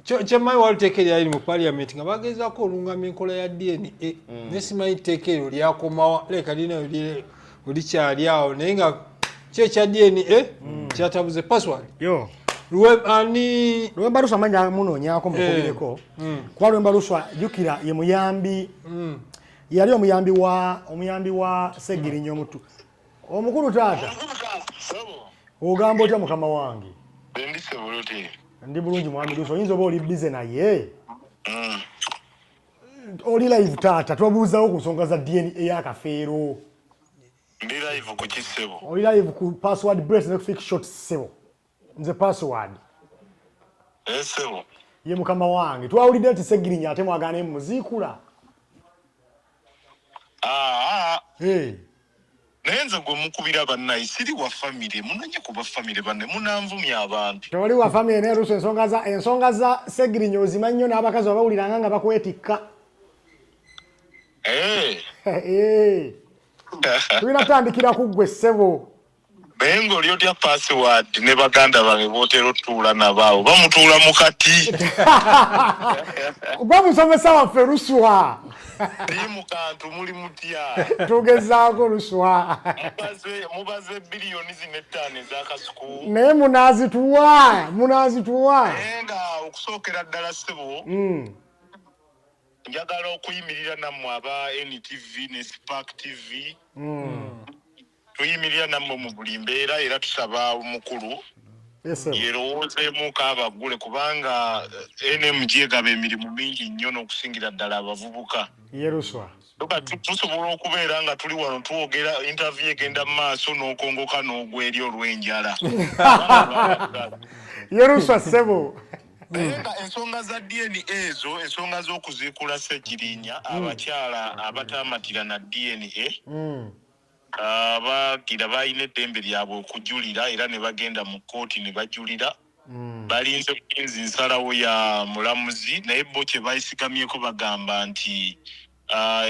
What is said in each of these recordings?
kyemmanyi wali teeka eryaliri mu paliament nga bagezaako olungama enkola ya dna mm. naye simanyi teeka eryo lyakomawa leka lina olikyali awo naye nga ki ekya dna mm. kyatabuze password lwemba luswa manyi amunonyako mukubireko eh. mm. kuba lwemba luswa jukira ye muyambi yali omuyambi wa omuyambi wa segirinya omutu omukulu taata ogamba otya mukama wange ndi bulungi mwami lusi oyinza oba oli bize naye mm. oli live taata twabuuzawo ku nsonga za dna eyakafeero ndi live ku kisebo oli live ku password brace ne fix shot sebo nze password esebo eh, ye mukama wange twawulidde nti segirinya ate mwagana emuziikula ah, ah. hey. Naye nze gwe mukubira bannaye siri wa famire munonye kuba famire banne munanvumya abantu. Tewali wa famire naye luusi ensonga za ensonga za Segirinya ozima nnyo n'abakazi babawuliranga nga bakwetikka. Eh. Eh. Tulina kutandikira ku ggwe ssebo. Naye ng'oli otya password ne baganda bange b'otera otuula nabo awo bamutuula mu kati. Gwe musomesa waffe Luswa. Team kantu muli mutya. Tugezaako luswa. Mubaze mubaze billioni zine tani za kasuku. Naye munazituwa, munazituwa. Enga okusookera ddala sebo. Mm. Njagala okuyimirira nammwe aba NTV ne Spark TV. Mm. tuyimirira nammwe mu buli mbeera era tusaba omukulu yerowoozeemu kaabaggule kubanga eh, nmg egaba emirimu mingi nnyo n'okusingira ddala abavubuka yeruswa tusobola okubeera nga tuli wano twogera intervie egenda mu maaso n'okongoka n'ogweri olw'enjala yeruswa ssebo naye nga ensonga za dna ezo ensonga z'okuziikula ssegirinya abakyala abataamatira na dna mm. Abawagira balina eddembe lyabwe okujulira era ne bagenda mu kkooti ne bajulira. Balinze bulinzi nsalawo ya mulamuzi naye bo kye beesigamyeko bagamba nti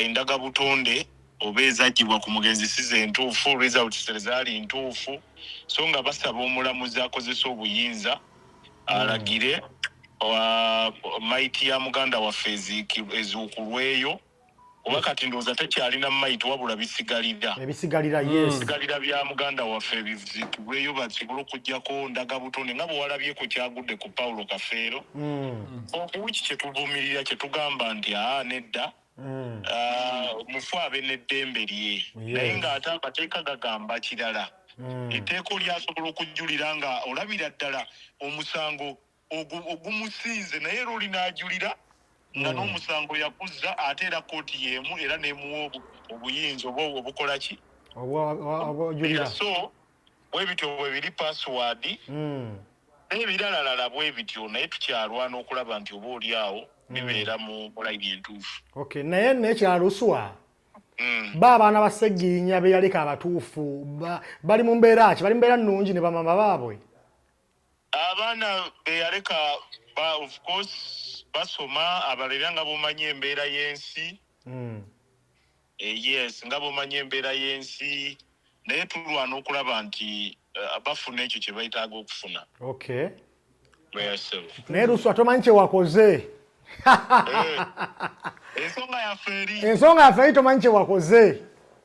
endagabutonde oba ezaggyibwa ku mugenzi si ze ntuufu, results, tezaali ntuufu so nga basaba omulamuzi akozese obuyinza alagire mayiti ya muganda waffe ezuukulweyo. kuba kati ndowooza tekyalina mayiti wabula bisigalira ebisigalira hmm. yes bisigalira bya muganda waffe ebizikibweyo basobola okujjako ndaga butonde nga bwewalabye ku kyagudde ku pawulo kafeero hmm. okuwiki kyetuvumirira kyetugamba nti aa nedda hmm. ah, mufu abe neddembe lye naye ng'ate amateeka gagamba kirala etteeka olyasobola okujjulira nga olabira ddala omusango ogumusinze naye era oli n'ajulira nga hmm. n'omusango yakuzza ate era kkooti y'emu era n'emuwa obuyinza oba obukola ki obujulira so bwe bityo bwe biri pasiwaadi hmm. n'ebiralalala bwe bityo naye tukyalwana okulaba nti oba oli awo hmm. bibeera mu layini entuufu okay naye nekyaluswa Mm. ba abaana ba segirinya beyaleka abatuufu bali mu mbeera ki bali mbeera nnungi ne bamama baabwe abaana beyaleka ba of course basoma abalera nga bomanyi embeera yensi mm. e, yes nga bomanyi embeera yensi naye tulwana okulaba nti uh, bafuna ekyo kyebaitaaga okufuna okay. naye luswa tomanyi kyewakoze eh, ensonga yaffe eri tomanyi kyewakoze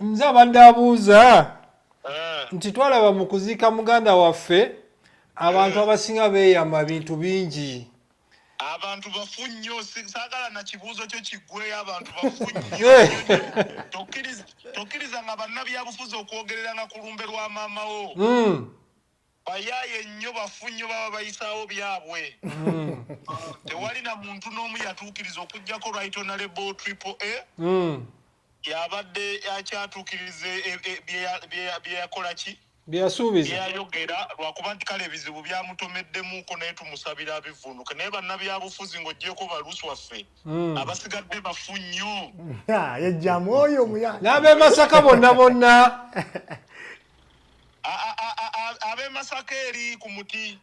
nze abadde abuuza eh. nti twalaba mu kuziika muganda waffe abantu eh. abasinga beeyama bintu bingi abantu bafu nnyo saagala na kibuuzo kyo kiggweyo abantu bafu nnyo eh. tokkiriza nga bannabyabufuzi okwogereranga ku lumbe lwa maama wo hmm. Bayaye nnyo bafu nnyo baba bayisaawo byabwe. Tewali na muntu n'omu yatuukiriza okuggyako Right Honourable Triple A y'abadde akyatuukiriza e- e- e- bye ya- bye ya- bye yakola ki bye yasuubiza byeyayogera lwakuba nti kale ebizibu byamutomeddemuuko naye tumusabira abivunuke naye bannabyabufuzi ng'ogyeko balusi waffe Hmm. abasigadde bafu nnyo Ah, yejjamu oyo omuya n'ab'e masaka bonna bonna ab'e masaka eri ku muti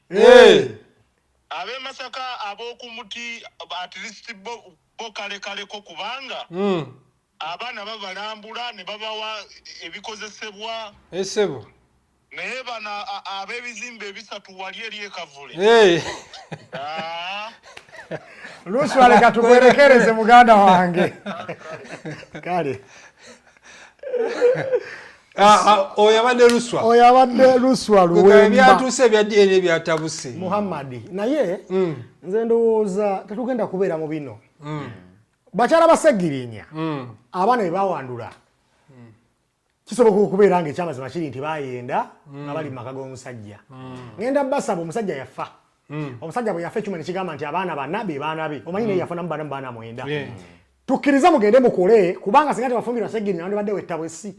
ab'e masaka ab'oku muti at least bo kalekaleko kubanga hmm. abaana babalambula ne babawa ebikozesebwa esebo eh, naye bano ab'ebizimbe ebisatu wali eri ekavule lusualeka tukuwerekereze muganda wange kale Ah, ah, oyo abadde luswa oyo abadde luswa luwembaebyatuuse ebya dna ebyatabuse muhammadi naye mm. nze ndowooza tetugenda kubeera mu bino mm. bakyala basegirinya mm. abaana bebawandula kisoboka okubeera nga ekyamazima kiri nti bayenda nga bali mu maka g'omusajja ngenda basaba omusajja yafa Mm. Omusajja bwe yafa ekyuma ne kigamba nti abaana bana be baana be. Omanyi mm. naye yafunamu bana baana mwenda. Yeah. Mm. Tukkirize mugende mukole kubanga singa tebafumbirwa segiri nandi badde wettabwe essi.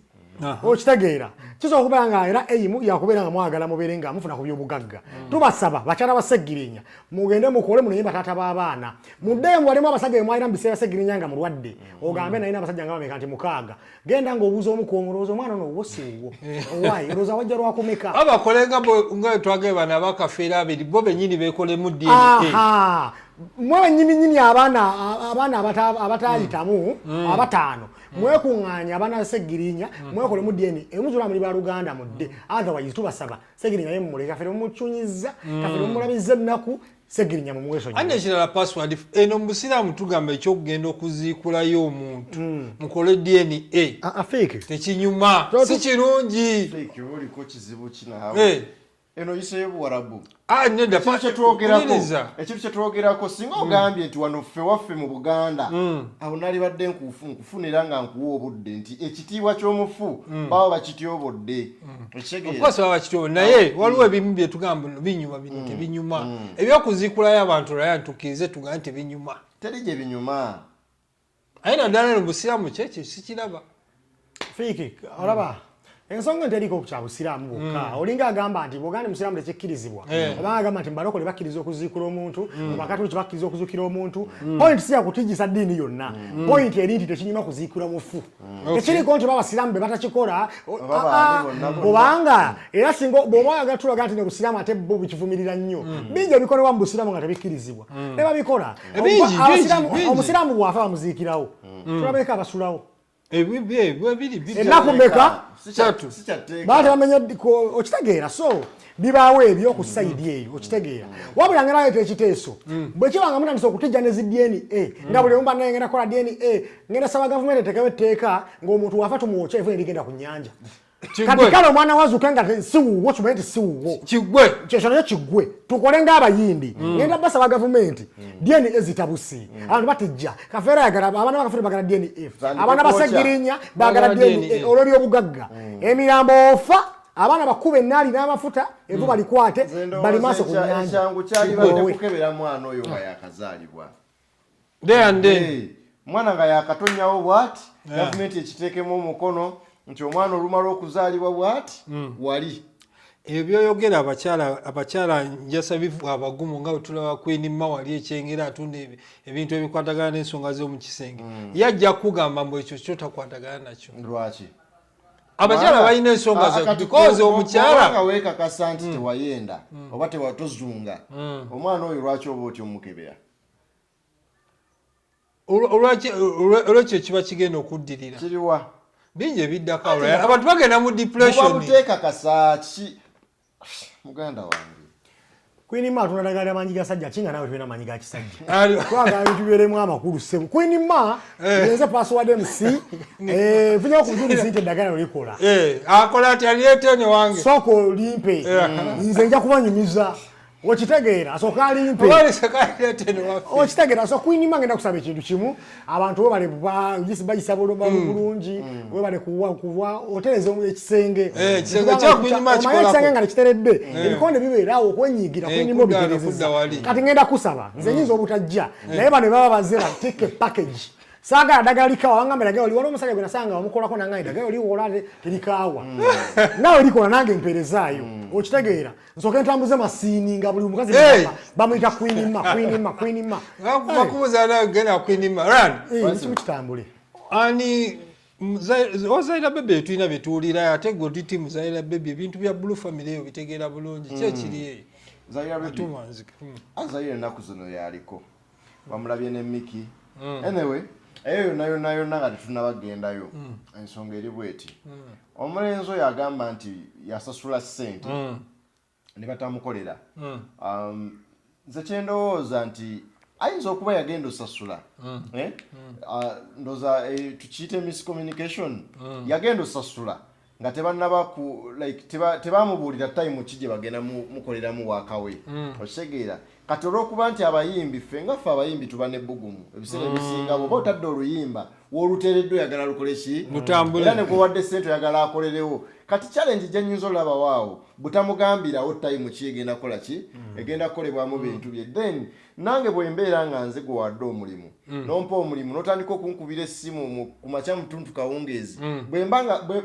okitegeera kisobola okubeera nga era eimu yakubeera nga mwagala mubeere nga mufuna ku byobugagga mm. tubasaba bakyala ba segirinya mugende mukole munoye bataata b'abaana muddeemu walimu abasajja bemwalina mu biseera segirinya nga mulwadde mm. ogambe naye n'abasajja nga bameka nti mukaaga genda nga obuuza omu kwomu olowooza omwana ono owo si wuwo eh. owayi olowooza wajja lwakumeka abakole nga nga twagee bana bakafeera abiri bo benyini bekolemu dna mwe benyininyini abaana abaana abatayitamu mm. mm. abataano mm. mwekuŋŋaanya abaana segirinya mwekolemu dna emuzula muli baluganda mudde otherwise tubasaba segirinya ye mumuleke kafere mumucunyiza kafere mumulabiza ennaku segirinya mumwesonyi ane kirala password eno musiramu tugamba ekyokugenda okuziikulayo omuntu hmm. mukole dna ah, ah, tekinyuma si kirungi eno yiseyo buwarabu ah, ekintu kyetwogerako singa hmm. ogambye nti wano ffe waffe mu buganda hmm. awo nalibadde nkufu nkufunira nga nkuwa obudde nti ekitiibwa ky'omufu baba bakityobodde okukosa baba kityo naye ah, waliwo mm. ebimu byetugamba no binyuma bino mm. tebinyuma mm. ebyokuzikulayo abantu laya ntukirize tugamba nti binyuma teri gye binyuma aye naddala no busiraamu kyekyo sikiraba fiiki olaba ensonga enteriko kya busiraamu bwokka olinga agamba nti bwogandi musiraamu tekyikkirizibwa eh. oba agamba nti mbalokole bakkiriza okuziikula omuntu bakatuliki bakkiriza okuzukira omuntu point siyakutijisa ddiini yonna point eri nti tekinyuma kuziikula mufu Mm. ekiriko nti babasiraamu be batakikola kubanga era singa bwoba oyagala tulaga nti nebusiraamu ate bo bukivumirira nnyo mm. bingi ebikolebwa mu busiraamu nga tebikkirizibwa mm. nebabikola eh, omusiraamu bwafa bamuziikirawo tulabeeko abasulawo eh, enaku meka baa tebamenya okitegeera so bibaawo ebyo ku sayidi mm. eyo okitegeera wabula nga naleeta ekiteeso mm. bwe kiba nga mutandisa okutijja ne zi dna mm. nga buli omu banaye ngenda kola dna ngenda saba gavumenti etekewo etteeka ng'omuntu wafa tumwokya evuna erigenda ku nyanja kati kale omwana wazuuka nga siwuwo kimanyi nti siwuwo kigwe kyekyo nakyo kigwe tukole ng'abayindi ngenda basaba gavumenti dna ezitabusi abantu batijja kafeera yagala abaana bakafuna bagala dna abaana basegirinya bagala dna olw'ebyobugagga emirambo ofa abaana bakuba enaali n'amafuta evu hmm. balikwate bali maaso ku nyanjaekyangu kyalibadde kukebera mwana oyo nga yakazaalibwa mwana nga yakatonyawo bwati eh. gavumenti ekiteekemu omukono nti omwana olumala okuzaalibwa bwati hmm. wali ebyo byoyogera abakyala abakyala njasa bivu abagumu nga bwetulaba kwini mawali ekyengera atunda ebintu ebikwatagana n'ensonga z'omu kisenge hmm. yajja kukugamba mbu ekyo kyo takwatagana nakyo lwaki abakyala balina ensonga zebikozi omukyalanga wekakasa nti hmm. tewayenda hmm. oba tewatozunga hmm. omwana oyo lwaki oba otya omukebera olwekyo kiba kigenda okuddirira kiriwa bingi ebiddako abantu bagenda mu depression muganda wange Queen Ma tuna dagala manyi ga sajja kinga nawe tuna manyi ga kisajja. Kwa ga bintu bere mu amakuru sebo. Queen Ma eh. yenze password MC eh vunya ku zuri zinte dagala ulikola. Eh akola ati aliyete ne wange. Soko limpe. Eh. Nze nja kubanyumiza. Okitegeera asoka alimpe. Wali saka aliyete ne wange. Okitegeera so Queen Ma ngenda kusaba ekintu kimu. abantu webale bayisa buluma mm. bulungi mm. webale kuwa kuwa otereza ekisenge eh, ekisenge nga nekiteredde eh. ebikonde bibeerawo okwenyigira eh, kunyuma obiterezeza kati ngenda kusaba nze mm. nyinza obutajja naye bano baba bazira take a package sagala dagala likawa wangamba dagala oli waliwo omusajja gwe nasanga wamukolako nangaye dagala oli wola terikawa nawe likola nange mpeerezaayo okitegeera nsoke ntambuze masiini nga buli mukazi bamuyita kwinima kwinima kwinima bakubuza nayo genda kwinima kimu kitambule ani ozaira bebe tulina byetuwulira ate gwe otiti muzaira bebe ebintu bya blue family eyo bitegeera bulungi kyekiri mm. eyo zaira bebe azaira enaku zino yaliko bamulabye ne miki mm. anyway eyo yona yona yona nga tetunabagendayo mm. ensonga eri bweti mm. omulenzi oyo agamba nti yasasula sente mm. ne batamukolera mm. um, nze kyendowooza nti ayinza okuba yagenda osasula mm. eh? mm. uh, ndoza eh, tukiyite miscommunication mm. yagenda osasula nga tebannaba ku like tebaamubuulira teba time ki gye bagenda mukoleramu waakawe mm. okitegeera kati olw'okuba nti abayimbi ffe nga ffe abayimbi tuba nebbugumu ebiseera mm. ebisinga bwoba otadde oluyimba w'oluteereddwa oyagala lukole ki era ne gwewadde ssente oyagala akolerewo kati challenge gye nnyinza olabawaawo butamugambirawo time ki egenda kukola ki mm. egenda kukolebwamu bintu bye then nange bwembeera nga nze gwe wadde omulimu mm. nompa omulimu notandika okunkubira essimu ku makya mutuntu kawungeezi mm.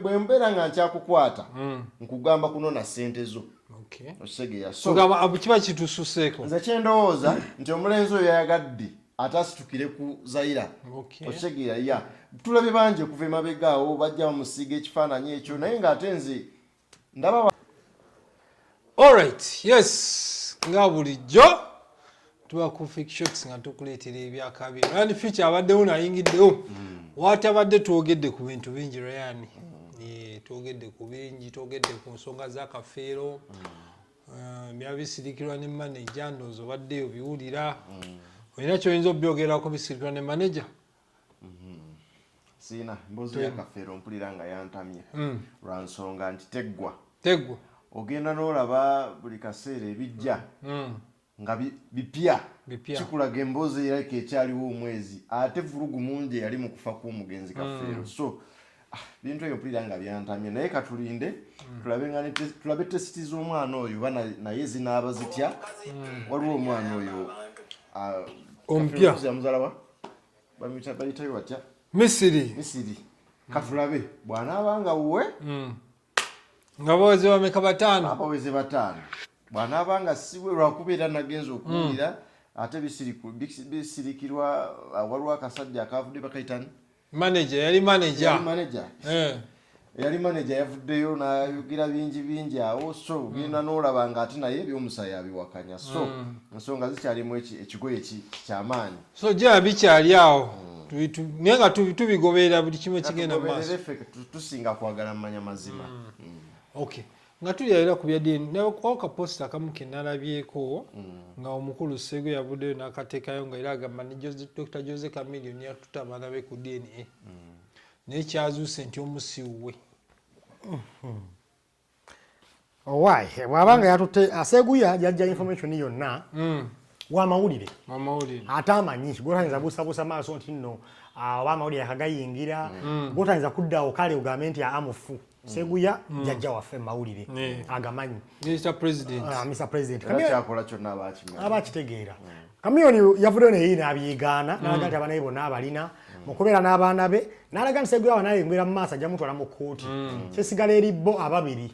bwembeera nga nkyakukwata mm. nkugamba kunona ssente zo okisegeyakiba kitususeeko nze kyendowooza nti omulenzi oyo yayagadde ate asitukire ku zaira okisegeya ya tulabye bangi okuva emabegaawo bajja bamusiiga ekifaananyi ekyo naye ngaate nze ndaba alright yes nga bulijjo tuba ku fik shots nga tukuleetera ebyakabi ryan future abaddewo nayingiddewo hmm. watabadde twogedde ku bintu bingi ryan hmm. twogedde ku bingi twogedde ku nsonga zakafeero hmm. eh, byaba bisirikirwa ne manaja ndoozi obaddeyo biwulira olina kyoyinza obyogerako bisirikirwa ne manaja siina mbozi ya kafeero mpulira nga yantamye mm. lwa nsonga nti teggwa teggwa ogenda n'olaba buli kaseera ebijja mm. nga bipya kikulaga emboozi erabika ekyaliwo omwezi ate vulugu mungi eyali mu kufa kw'omugenzi mm. kafeero so ah, bintu ebyo mpulira nga byantamye naye katulinde tulabe tesiti z'omwana oyo oba naye zinaaba zitya waliwo omwana oyo ah, omupya bayitayo batya misiri misiri katulabe bwanaaba nga wuwe hmm. nga baweze bameka bataano abaweze bataano bwanaaba nga siwe lwakubeera nagenza okuwulira hmm. ate bisirikirwa uh, waliwo akasajja akavudde bakaitani manager yali manager yali manager eh yali manager yavuddeyo nayogera bingi bingi awo so mm. genda nolaba nga ate naye ebyomusayi abiwakanya so mm. ensonga zikyalimu ekigoye kyamaanyi so jaa bikyali awo mm. naye nga tubigoberera buli kimu ekigenda maaso tusinga kwagala mumanya mazima okay nga tulya era ku bya DNA nawe kwao ka post akamu ke nalabyeko mm. nga omukulu sego yabuddeyo n'akateekayo nga era agamba ne Dr Jose Chameleon yatutte abaana be ku DNA mm. naye kyazuuse nti omusiwuwe mm-hmm. owaye oh, bwaba nga yatutte aseguya yajja information yonna mm. wamawulire ate amanyi gotayinza busabusa maaso nti nno ah, oba amawulire akagayingira gotayinza kuddawo kale ogambe nti aa ah, mufu seguya mm. jajja waffe mawulire agamanyi aba akitegeera kamiyoni yavuddeyo naye nabyegaana nalaga mm. nti abanaye bonna abalina mm. mukubeera n'abaana be nalaga nti seguya abanaye engwera mu maaso ajja mutwala mu kkooti kyesigala eri bo ababiri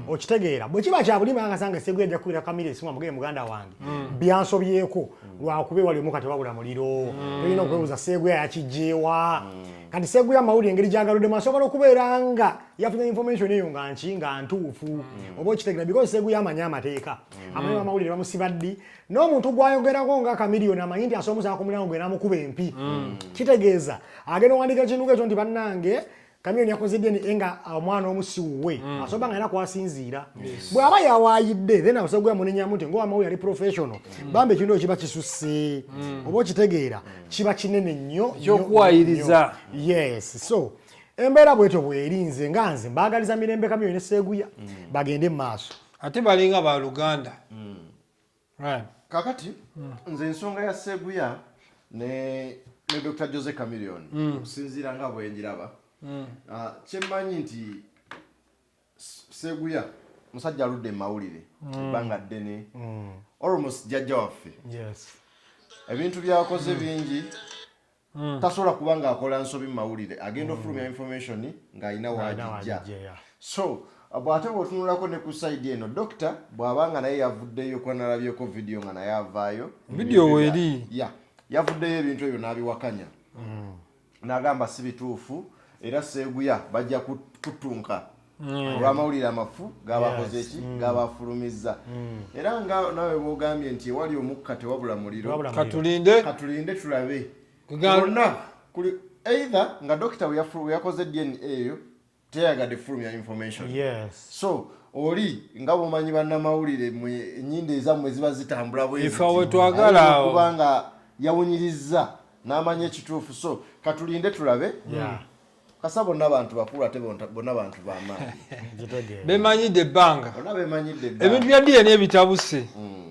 okitegeera bwe kiba kyabulima angasanga seguya ajja kukubira kamiri esimu amugeye muganda wange byansobyeko lwakuba ewali omukatewabula muliro tolina okwebuuza seguya yakijjeewa kati seguya amawulire engeri gyagaludemu asobola okubeera nga yafuna information eyo nga nki nga ntuufu mm. oba okitegera because seguya amanyi amateeka mm. amanyi amawulire bamusiba ddi n'omuntu gwayogerako nga kamiliyoni amanyi nti asomusala ku mulango gwe namukuba empi mm. kitegeeza agenda owandika ekintu ekyo nti bannange kamiyoni yakoze dna eh, nga ah, omwana omusiwuwe mm. asoba nga era kwasinziira bw'aba yawaayidde then asobola okuyamunenyamu nti ngowamawu yali professional mm. bambi ekintu ekyo kiba kisusse mm. oba okitegeera kiba kinene nnyo ekyokuwayiriza yes so embeera bwetyo bwerinze nga nze mbaagaliza mirembe kamyo ne seeguya mm. bagende mu maaso ate balinga ba luganda mm. right. kakati mm. nze ensonga ya seeguya ne, ne dr jose camilion mm. okusinziira nga bwenjiraba mm. uh, kyemmanyi nti Sseguya musajja aludde mu mawulire mm. ebbanga ddene mm. almost jajja waffe ebintu byakoze mm. bingi tasobola kuba ng'akola nsobi mu mawulire agenda ofulumya information ng'alina wagijja so bw'ate bw'otunulako ne ku sayidi eno dokita bw'aba nga naye yavuddeyo kuba nalabyeko vidiyo nga naye avaayo vidiyo weeri yavuddeyo ebintu ebyo n'abiwakanya Nagamba si bituufu era Sseguya bajja kuttunka mm. olw'amawulire amafu gaabakoze ki mm. gaabafulumizza mm. era nga nawe bwogambye nti ewali omukka tewabula muliro katulinde katulinde tulabe gonna kuli either nga dokita weyakoze dna eyo teyagadde fulumya information yes. so oli nga bumanyi bannamawulire enyindo ezammwe ziba zitambula bwezitwagalaokubanga yawunyirizza n'amanya ekituufu so katulinde tulabe yeah. kasa bonna bantu bakulu ate bonna bantu bamaanyi bemanyidde ebbanga ebintu bya dna ebitabuse mm.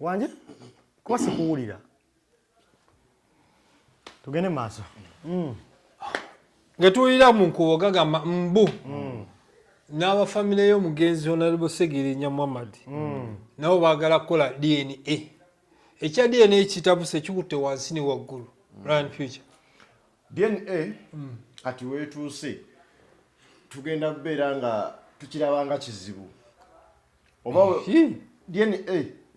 wange kuba sikuwulira tugende maaso mm. ngetuwulira mu nkubo gagamba mbu mm. n'abafamire y'omugenzi onalebo segirinya muhammad mm. nabo baagala kukola dna ekya dna ekitabuse kikutte wansi ne waggulu run future dna kati weetuuse tugenda kubeera nga tukirabanga kizibu oba dna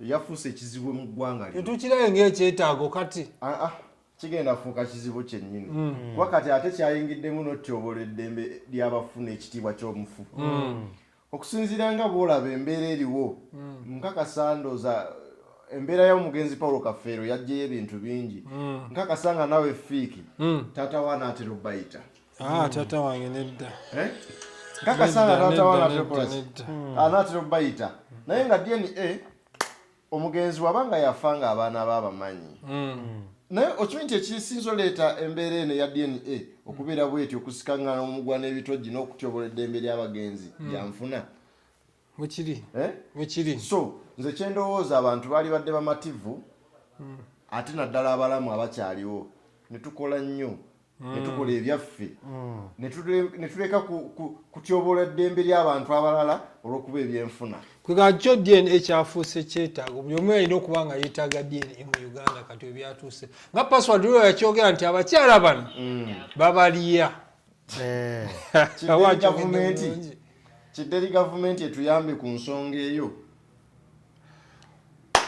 yafuuse ekizibu mu ggwanga lino tetukirabe ng'ekyetaago kati ah, ah, kigenda fuuka kizibu kyennyini mm. kuba kati ate kyayingiddemu n'otyobolo eddembe ly'abafuna ekitiibwa ky'omufu mm. okusinziira nga bw'olaba embeera eriwo mm. nkakasa ndooza embeera y'omugenzi paulo kafeero yajjeyo ebintu bingi nkakasa nga nawe fiiki taata wa naatera obayita Ah, taata wange nedda eh? kakasanga taata wanaekolaki hmm. anaatera ah, okubayita naye nga dna omugenzi waba nga yafa nga abaana ba abamanyi hmm. naye okimanyi nti ekisinza oleeta embeera eno eya dna okubeera bweti okusikangana omugwa n'ebitogi n'okutyobola eddembe ly'abagenzi hmm. byanfuna wekiri eh? wekiri so nze kyendowooza abantu baali badde bamativu hmm. ate naddala abalamu abakyaliwo netukola nnyo hmm. netukola ebyaffe hmm. netuleka kutyobola eddembe ly'abantu abalala olwokuba ebyenfuna kwega kyo dna kyafuuse kyetaago buli omu yalina okuba nga yetaaga dna mu uganda kati webyatuuse nga password lwo yakyogera nti abakyala bano babaliya eh. kidderi gavumenti etuyambe ku nsonga eyo